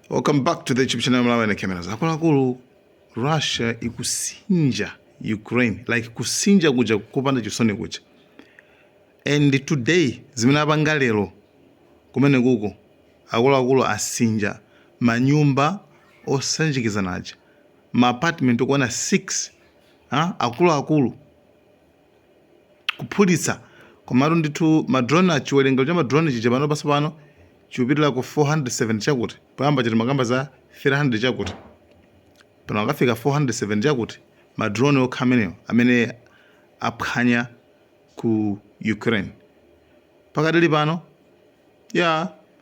Welcome back to the YouTube channel Malawi na Cameras. Akuluakulu Russia ikusinja Ukraine like kusinja kuja kupanda chisoni kuja. And today zimene apanga lero kumene kuko akuluakulu asinja manyumba osanjikizana aja ma apartment okwana 6 ah, akuluakulu kuphulitsa komatu ndithu ma drone a chiwerengero cha ma drone chija panopa tsopano chikupitira ku 470 chakuti poyamba chija timakamba za 300 chakuti pano akafika 470 chakuti ma drone okha amenewo amene aphwanya ku Ukraine pakadali pano ya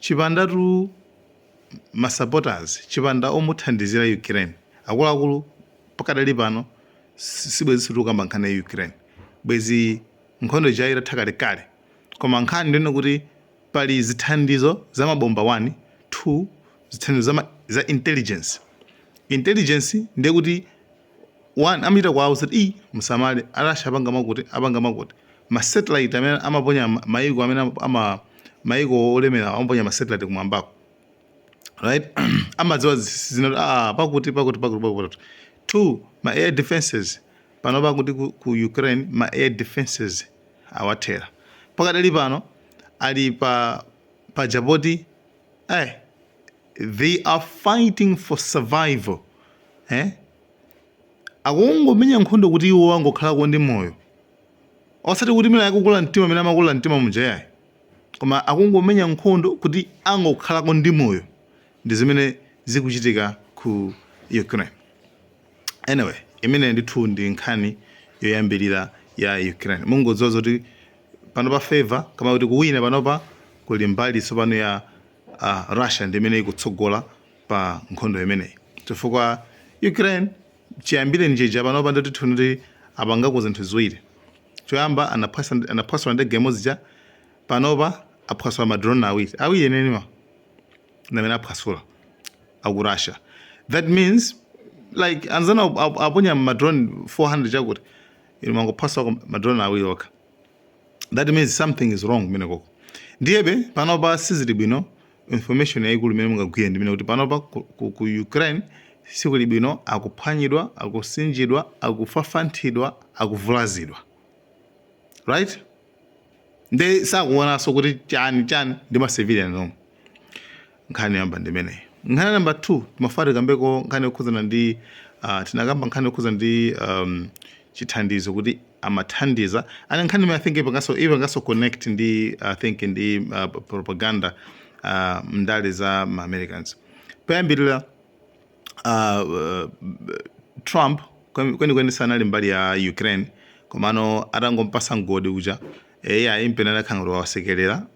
Chipandatu ma supporters, chipanda omuthandizira Ukraine, akuluakulu pakadali pano sibwezinso tikukamba nkhani ya Ukraine, bwezi nkhondo ija itatha kalekale, koma nkhani ndiyonena kuti pali zithandizo za mabomba 1, 2, zithandizo za ma, za intelligence, intelligence ndiye kuti. one amachita kuwauza kuti i musamale a Russia apanga makuti apanga makuti ma satellite amene amaponya ma- maiko amene ama- ama maiko olemera amaponya ma satellite kumwambako right amadziwa zi- zina kuti ah pakuti pakuti pakuti pakuti two ma air defenses pano pakuti ku, ku ukraine ma air defenses awathera pakadali pano ali pa jeopardy eh they are fighting for survival eh? akungomenya nkhondo kuti iwo angokhalako ndi moyo osati kuti mina akukula mtima mina amakula mtima muja ayi koma akungomenya nkhondo kuti angokhalako ndi moyo ndi zimene zikuchitika ku ukraine anyway imene ndithu ndi nkhani yoyambirira ya ukraine mungodziwa zoti panopa favor kama kuti kuwina panopa kuli mbali tsopano ya a Russia ndi imene ikutsogola pa nkhondo imeneyi chifukwa Ukraine chiyambireni chija panopa nditi tinene kuti apangako zinthu ziwiri, choyamba anaphwasa anaphwasula ndege imodzi ija, panopa aphwasula ma drone awiri, awiri enieniwa ndi amene aphwasula a ku Russia that means like anzanu aponya ma drone 400 chakuti inu mwangophwasula ma drone awiri okha. that means something is wrong kumeneko ndiyebe panopa sizili bwino information yaikulu imene mungagwire ndi yonena kuti panopa ku, ku, ku ukraine sikuli bwino akuphwanyidwa akusinjidwa akufafanthidwa akuvulazidwa right nde sakuonanso kuti chani chani ndi ma civilian omwe Nkhani yoyamba ndi imeneyi. Nkhani ya number 2, timafuna tikambeko nkhani yokhudzana ndi, ah, tinakamba nkhani yokhudzana ndi, um, chithandizo kuti amathandiza. And nkhani imeneyi I think ipanganso, ipanganso connect ndi, I think ndi, ah, propaganda, ah, m'ndale za ma Americans. Poyambirira, ah, Trump kwen- kwenikweni sanali mbali ya Ukraine, komano atangompatsa mgodi uja, eh, iyayi mpamene anakhala ngati wawasekerera,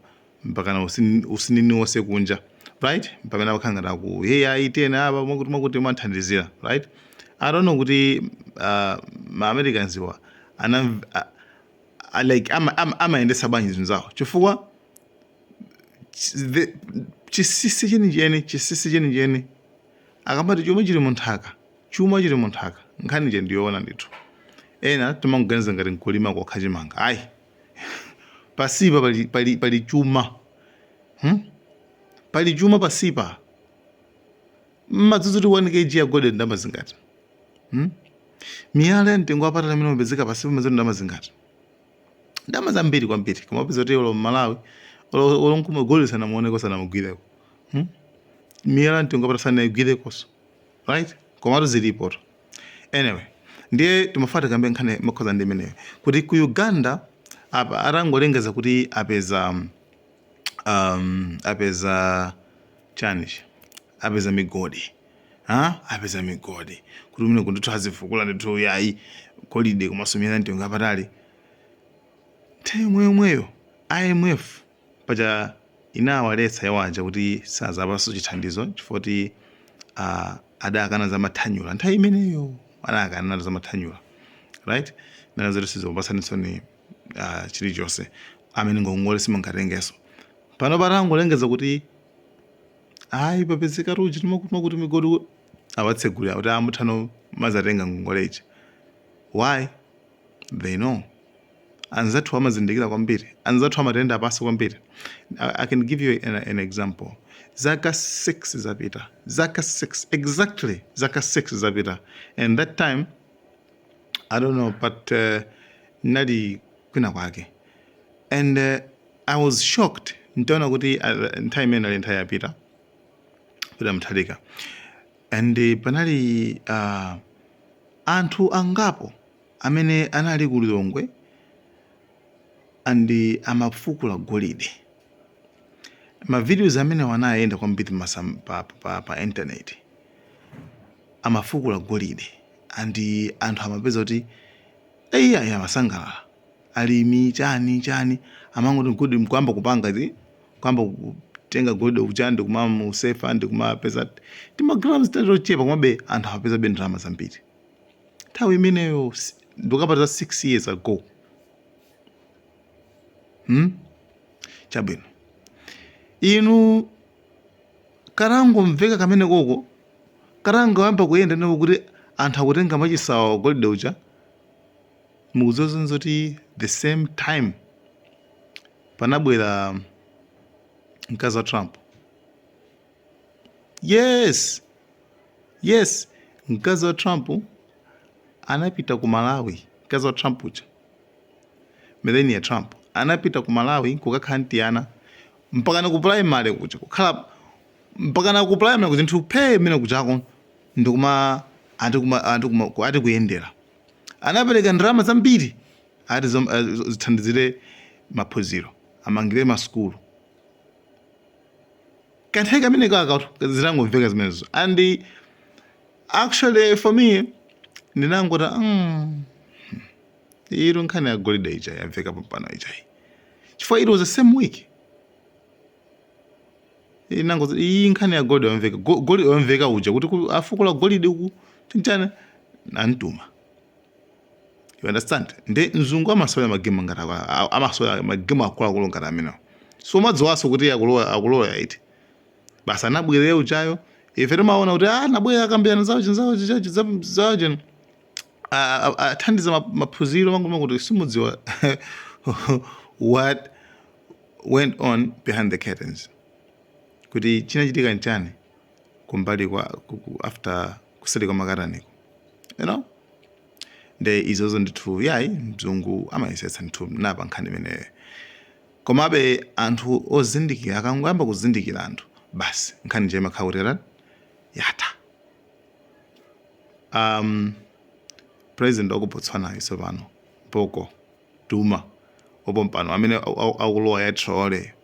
mpakana usini- usinini wonse kunja right pamene amakhala ngati akuti iyayi tiyeni apa mwakuti mwakuti mwathandizira right i don't know kuti uh, ma americans wa anam a- a- like ama- ama- amayendetsa bwanji zinthu zawo chifukwa chi- the- chinsinsi chenicheni chinsinsi chenicheni akamati chuma chili munthaka chuma chili munthaka nkhani ija ndiyoona ndithu ena timangoganiza ngati nkulima kokha chimanga ayi pasipa pali, pali, pali chuma hmm? pali chuma pasipa mmadziwa zoti 1 kg ya gold ndi ndalama zingati hmm? miyala ya mtengo wapatali amene umapezeka pasipa mmadziwa zoti ndalama zingati ndalama zambiri kwambiri koma upeza kuti olo mmalawi olo nkomwe gold sanamuoneko sanamugwireko hmm? miyala ya mtengo wapatali sanaigwirekonso right komatu zilipotu anyway ndiye timafuna tikambe nkhani yokhudzana ndi imeneyo kuti ku uganda apa atangolengeza kuti apeza um, um, apeza chanichi apeza migodi ha apeza migodi kuti kumeneku ndithu azifukula ndithu yayi golide komanso miyala ya mtengo wapatali nthawi yomweyomweyo imf paja inawaletsa iwo aja kuti sazapatsanso chithandizo chifukwa kuti uh, adakana za mathanyula nthawi imeneyo adakana za mathanyula right ananena zoti sitikupasaninsoni uh, ah, chilichonse amene ngongole simungatengenso pano patangolengeza kuti ayi papezeka ruji timakutuma kuti migodi awatsegulira kuti ah muthano kumazatenga ngongole ija why they know anzathu amazindikira kwambiri anzathu amatiyenda pasi kwambiri I, i can give you an, an example zaka 6 zapita zaka 6 exactly zaka 6 zapita and that time i don't know but uh, nali kwina kwake and uh, i was shocked ntaona kuti uh, nthawi imeneyo inali nthawi ya Peter Peter Mutharika and uh, panali uh, anthu angapo Amene anali ku Lilongwe and amafukula golide. Ma videos amenewa anayenda kwambiri masa- pa, pa, pa internet. Amafukula golide and anthu amapeza kuti eyi ayi amasangalala. Alimi chani chani amangoti golide nkuyamba kupanga zi kuyamba kutenga golide uja ndi kumamusefa ndi kumapeza timagrams tatochepa komabe anthu amapezabe ndalama zambiri. nthawi imeneyo si- ndikukamba za 6 years ago hmm? chabwino inu katangomveka kamene koko katangoyamba kuyenda ndipo kuti anthu akutenga machisawa golide uja mukudziwa zoona zoti the same time panabwera mkazi wa trump Yes! Yes! Mkazi wa Trump anapita ku Malawi, mkazi wa Trump uja. Melania Trump anapita ku Malawi kukakhala ndi ana mpaka na ku primary kuja kukhala mpaka na ku primary kuja zinthu phe mene kujako ndikumati kumati kuma ku- ati kuyendera anapereka ndalama zambiri ati zom- eh, zo- zithandizire maphunziro amangire masukulu kanthawi kameneka zitangomveka zimenezo and actually for me ndinangoti mm, iyitu nkhani ya golide ija yamveka pompano ijayi chifukwa it was the same week inangoti iyi nkhani ya golide yamveka Go- golide yamveka uja kuti ku- afukula golide uku Tchaina namtuma you understand nde mzungu amasewera magemu ngati akwa- a- amasewera magemu akuluakulu ngati amenewo so umadziwanso kuti akulowa akulowa iti basi anabwerera ujayo ife timaona kuti ah anabwera akambirana zawo chinzawo chijachi zawo chino a- a- athandiza ma- maphunziro mangoona kuti simudziwa what went on behind the curtains kuti chinachitika nchani kumbali kwa ku- ku- after kuseri kwa makataniko you know nde izozo ndithu yayi mzungu amayesetsa ndithu ndi pa nkhani imeneyo komabe anthu ozindikira akangoyamba kuzindikira anthu basi nkhani ija imakhala kuti yatani yatha um, president wa ku botswana uyunso pano boko duma wapompano amene au- au- akulowa ya traore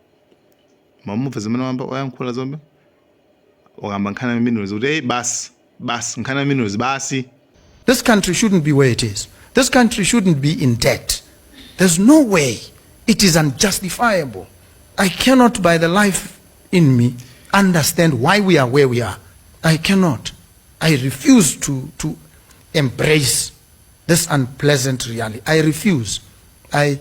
Mwamumva zimene wayamba wayankhula zomwe? Wakamba nkhani ya minerals kuti hey basi basi nkhani ya minerals basi. This country shouldn't be where it is, this country shouldn't be in debt, there's no way, it is unjustifiable. I cannot by the life in me understand why we are where we are. I cannot. I refuse to, to embrace this unpleasant reality. I refuse. I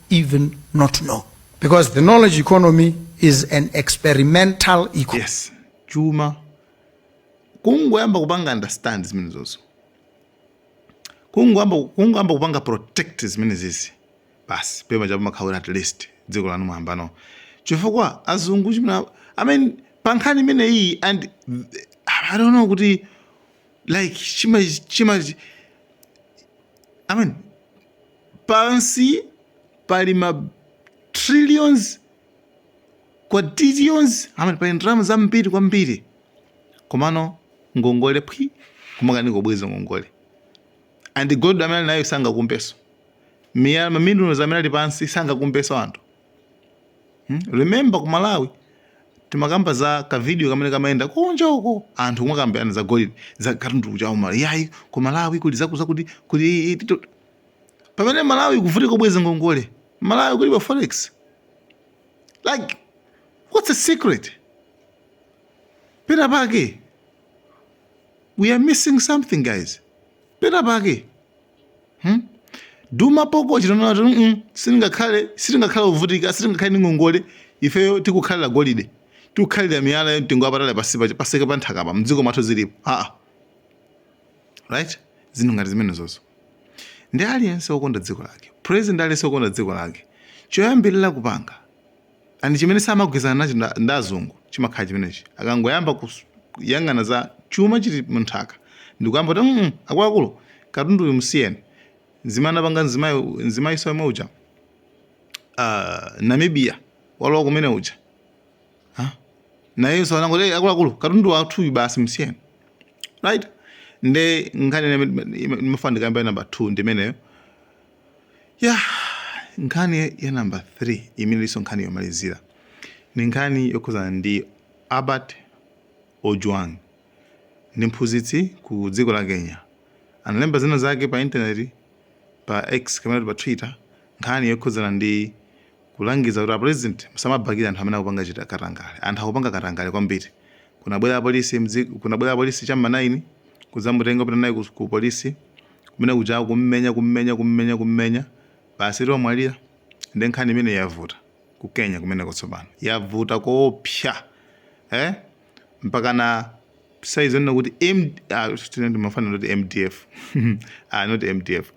even not know because the knowledge economy is an experimental economy. yes chuma kungoyamba kupanga understand zimenezozo kungoyamba kungoyamba kupanga protect zimenezizi basi pema chapo makhawira at least dziko lanu mwambano chifukwa azungu chimene i mean pa nkhani imene iyi and th- i don't know kuti like chima chima i mean Pansi pali ma trillions, quadrillions, I mean pali ndalama zambiri kwambiri. Komano ngongole phwi kumakanika kubweza ngongole. And gold amene ali nayo sangakumbeso. Miyala ma minerals amene ali pansi sangakumbeso anthu. Hmm? Remember ku Malawi timakamba za ka video kamene kamayenda kunja uko anthu kumakambirana za golide za katundu kuchawo Malawi. Yayi ku Malawi kuli zakuti zakuti kuli pamene malawi kuvutika kubweza ngongole malawi kulibe forex like what's the secret pena pake we are missing something guys pena pake hmm? duma poko chitonoto mm -mm, sitingakhale sitingakhale kuvutika sitingakhale ndi ngongole ifeyo tikukhalira golide tikukhalira miyala ya mtengo wapatali pansi pa nthaka pa mdziko mwathu zilipo aa ah. right zinthu ngati zimenezozo ndi aliyense wokonda dziko lake president aliyense wokonda dziko lake choyambirira kupanga and chimene samagwirizana nacho nda- ndi azungu chimakhala chimenechi akangoyamba kus- kuyang'ana za chuma chili munthaka ndikuyamba kuti mm, akuluakulu katundu uyu musiyeni nzimene anapanga nzimai nzimaiso yemwe uja uh, namibia walowa kumene uja Ha? nayenso anangoti "Hey, akuluakulu katundu wathuyu basi msiyeni right nde nkhani ndimafuna ndikambe ya namba 2 ndimeneyo ya nkhani ya namba 3 imene ilinso nkhani yomalizira ni nkhani yokhuzana ndi albert ojwang ndi mphunzitsi ku dziko la kenya analemba zina zake pa intaneti pa x kapena kuti pa twitter nkhani yokhuzana ndi Kulangiza kuti a president musamabakile anthu amene akupanga chita katangale. Anthu akupanga katangale kwambiri. Kunabwera apolisi mdzi kunabwera apolisi cha mma 9 kudzamutenga kupita naye ku ku polisi. Kumene kuja kummenya kummenya kummenya kummenya. Basitu wamwalira. Nde nkhani imeneyi yavuta. Ku Kenya kumeneko tsopano. Yavuta koopsa. Eh? Mpakana size yonena kuti M ah tinene mafana oti mdf. ah not mdf.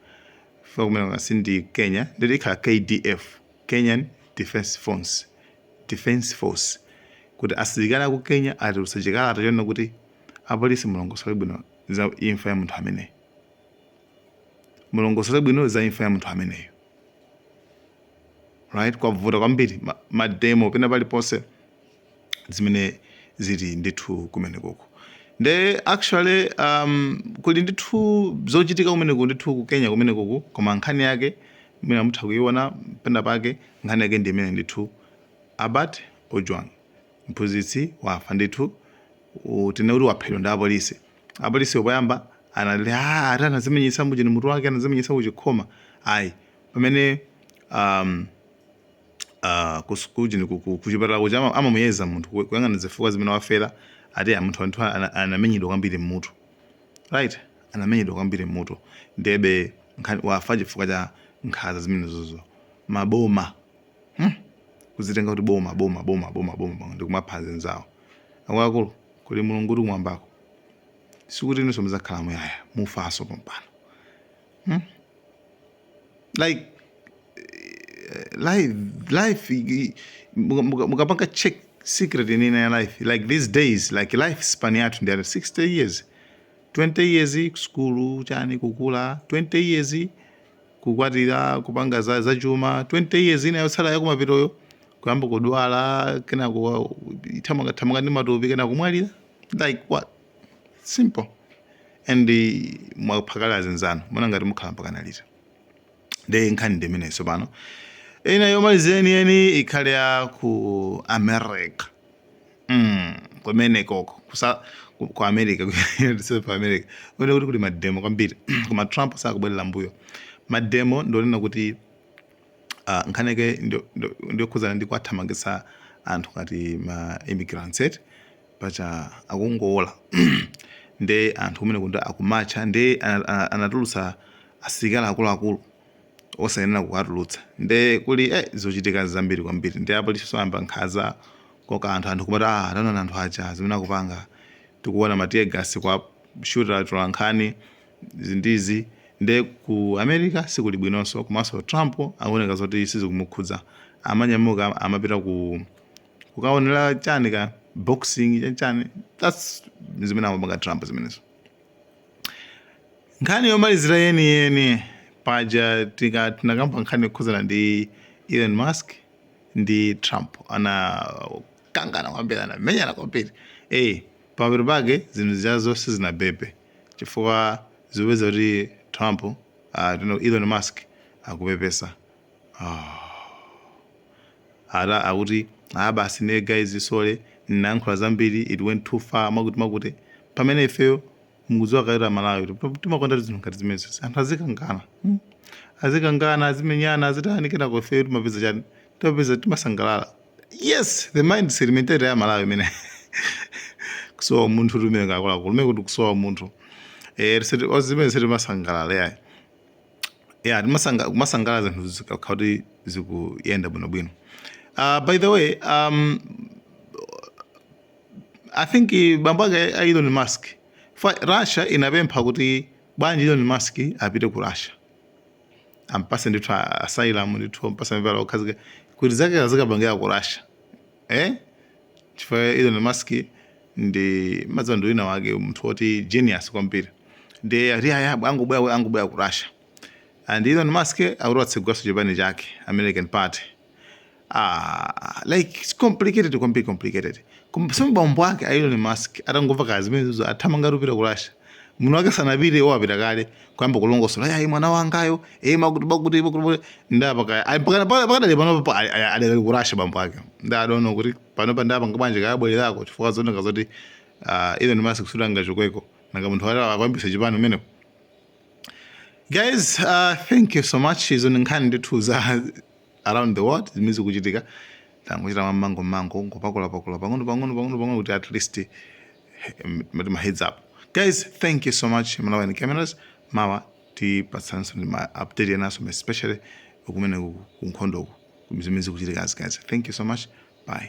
chifukwa kumeneku si ndi Kenya ndiye ikhala KDF, Kenyan Defence Force, Defence Force, kuti asilikali aku Kenya atulutsa chikalata chonena kuti apolisi mulongosole bwino za imfa ya munthu ameneyo, mulongosole bwino za imfa ya munthu ameneyo. Right, kwavuta kwambiri ma, ma demo pena paliponse zimene zili ndithu kumenekuku nde actually um, kuli ndithu zochitika kumeneku ndithu ku Kenya kumenekoku koma nkhani yake mwina mutha kuiona pena pake nkhani yake ndi imene ndithu Albert Ojwang mphunzitsi wafa ndithu utene kuti waphedwa ndi apolisi apolisi poyamba anali ah, ati anazimenyetsa muchani mutu wake anazimenyetsa kuchikhoma ayi pamene um, ah, ku sukulu chani ku- ku- kuchipatala kuja ama- amamuyeza munthu ku- kuyang'ana zifukwa zimene wafera ati ah, munthu anthu ana- anamenyedwa kwambiri mmutu right anamenyedwa kwambiri mmutu ndebe nkhani- wafa chifukwa cha nkhanza zimenezozo maboma hmm? kuzitenga kuti boma boma boma boma boma boma, ndikumapha anzawo akuluakulu kuli mulungu kuti kumwambako sikuti inunso muzakhala muyaya mufanso pompano like eh, life life i- muka- muka- mukapanga check secret inina ya life like these days like life span yathu ndi ati 60 years 20 years kusukulu chani kukula 20 years kukwatira kupanga za, za chuma 20 years ina yotsala yakumapetoyo kuyamba kudwala kenako kuthamangathamanga ndi matupi kenako kumwalira like what simple and mwapha kale azinzanu muona ngati mukhala mpakana liti nde nkhani ndi imeneyi tsopano ina yomaliza yeniyeni ikhale ya ku america mm, kumenekoko kusa ku- ku america South ku america kumenekuku kuli mademo kwambiri koma trump sakubwerera mbuyo mademo ndi onena kuti uh, nkhani yake ndiyokhudzana ndi kuwathamangitsa anthu ngati ma immigrants eti paja akungoola nde anthu kumeneko nde akumatcha nde anatulutsa asilikali akuluakulu osayenera kuwatulutsa nde kuli eh, zochitika zambiri kwambiri nde apolisinso ayamba nkhanza kukoka anthu anthu kumati ah, taonani anthu aja zimene akupanga tikuona matiyegasi kuwashuta atolankhani zinthuzi nde ku america sikuli bwinonso komanso trump akuoneka zoti sizikumukhudza amanyamuka amapita ku kukaonera chani ka boxing chachani thats zimene amapanga trump zimenezo nkhani yomalizira yeniyeni paja tinakamba nkhani yokhuzana ndi elon musk ndi trump anakangana kwambiri anamenyana kwambiri ey pamapeto pake zinthu zija sizinabebe chifukwa zikupeza kuti trump uh, elon musk akupepesa Aaah ati akuti aah basi nde guys sorry ndinayankhula zambiri it went too far mwakuti mwakuti pamene ifeyo mukudziwa kale ife a Malawi kuti timakondatu zinthu ngati zimenezi anthu azikangana mm azikangana azimenyana azitani kenako ifeyo timapeza chani timapeza timasangalala yes the mindset mentality ya Malawi imene kusowa munthu timene takula kumene kuti kusowa munthu eh ndi zimene sitimasangalala yayi yeah kumasanga- kumasangala zinthu zikakhala kuti zikuyenda bwinobwino uh, by the way um, i think eh, bambo ake a elon musk fa russia inapempha kuti bwanji elon musk apite ku russia ampase ndithu a- asylum ndithu ampase malo okhazikika kuti zake azikapangira ku russia eh chifukwa Elon Musk ndi mmadziwa ndi wina wake munthu woti genius kwambiri nde ati ayi angobwera angobwera ku Russia and Elon Musk akuti atsegulaso chipani chake American Party ah like it's complicated kwambiri complicated so bambo ake a Elon Musk atangomva za zimenezo athamanga kupita ku Russia munthu wake sanapite iwo apita kale kuyamba kulongosola yayi mwana wangayo e makuti makuti makuti pakadali pakada pa- pakadali pano pa- ali- ali- adakali ku Russia bambo ake I don't know kuti pano pa adapanga bwanji kaya abwererako chifukwa zikuoneka zoti ah, Elon Musk kusuta ngachokweko nanga munthu wale akuyambisa chipani umeneko guys uh, thank you so much izo ni nkhani ndithu za around the world zimene zikuchitika tangochita mongo mongo ngopakula pakula pang'ono pang'ono pang'ono pang'ono kuti at least ma heads up guys thank you so much malawian cameras mawa tipatsanso ndi ma update enaso especially kumene ku- ku nkhondoko zimene zikuchitika as guys thank you so much bye